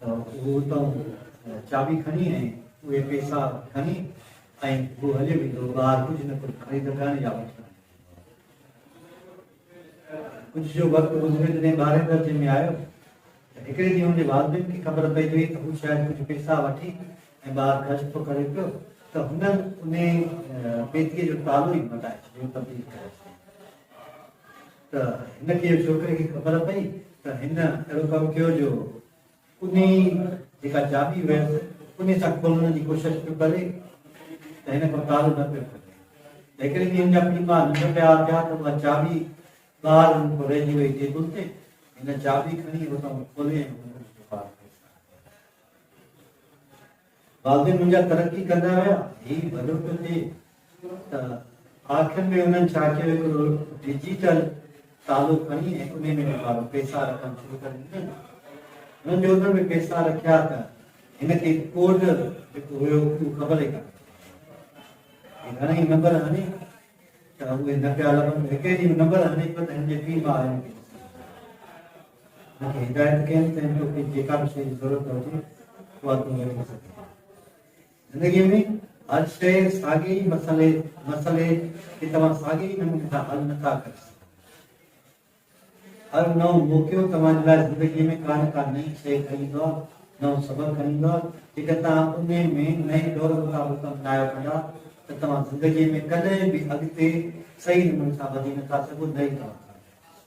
ته هو اتان چاٻي کڻي ۽ اهي پيسا کڻي ۽ هو هليو ويندو هو ٻاهر ڪجهه نه ڪجهه خريد ڪرڻ يا وٺڻ. ڪجهه جو وقت گذريو جڏهن ٻارهين درجي ۾ آيو ته هڪڙي ڏينهن هن جي والدين کي خبر پئي وئي ته هو شايد ڪجهه پيسا وٺي ۽ ٻاهر خرچ ٿو ڪري پيو ته هنن انهي پيتيء جو تالو ئي مٽائي ڇڏيو، تبديل ڪري ڇڏيو. ته هن کي ڇوڪري کي خبر پئي ته هن اهڙو ڪم ڪيو جو انهي جيڪا چاٻي هيس انهي سان کولڻ جي ڪوشش پيو ڪري ته هن کان ڪارو نه پيو ڪري ته هڪڙي ڏينهن هن جا پيء ماء ننڊ پيا اٿيا ته اها چاٻي ٻاهر هن کان رهجي وئي ٽيبل تي هن چاٻي کڻي اتان کولي بعضي منهنجا ترقي ڪندا ويا، هي ڀلو ته ٿئي ته آخر ۾ انهن ڇا ڪيو هڪڙو ڊجيٽل تالو کڻي ۽ انهي ۾ ڏيکارو پئسا رکڻ شروع ڪري ڏنن. هن جو ان ۾ پئسا رکيا ته هن کي ڪوڊ جيڪو هيو اهو خبر ئي ڪانه پئي. گهڻئي نمبر هڻي ته اهي نه پيا لڀن. هڪڙي ڏينهن نمبر هڻي پيو ته هن جي پيء ماء هن کي ڏسي. مون کي هدايت ڪيائين ته تو کي جيڪا به شيء جي ضرورت هجي اها تون وٺي سگهين ٿي. زندگيء ۾ هر شيء ساڳي ئي مسئلي، مسئلي کي توهان ساڳي ئي نموني سان حل نه ٿا ڪري سگهو. هر نئون موقعو توهان جي لاء زندگيء ۾ ڪا نه ڪا نئين شيء کڻي ايندو آهي، نئون سبق کڻي ايندو آهي، جيڪر توهان انهي ۾ نئين دور مطابق ڪم نه آيو ڪندا ته توهان زندگيء ۾ ڪڏهن به اڳتي صحيح نموني سان وڌي نه ٿا سگهو نه ئي توهان ڪامياب ٿي سگهو.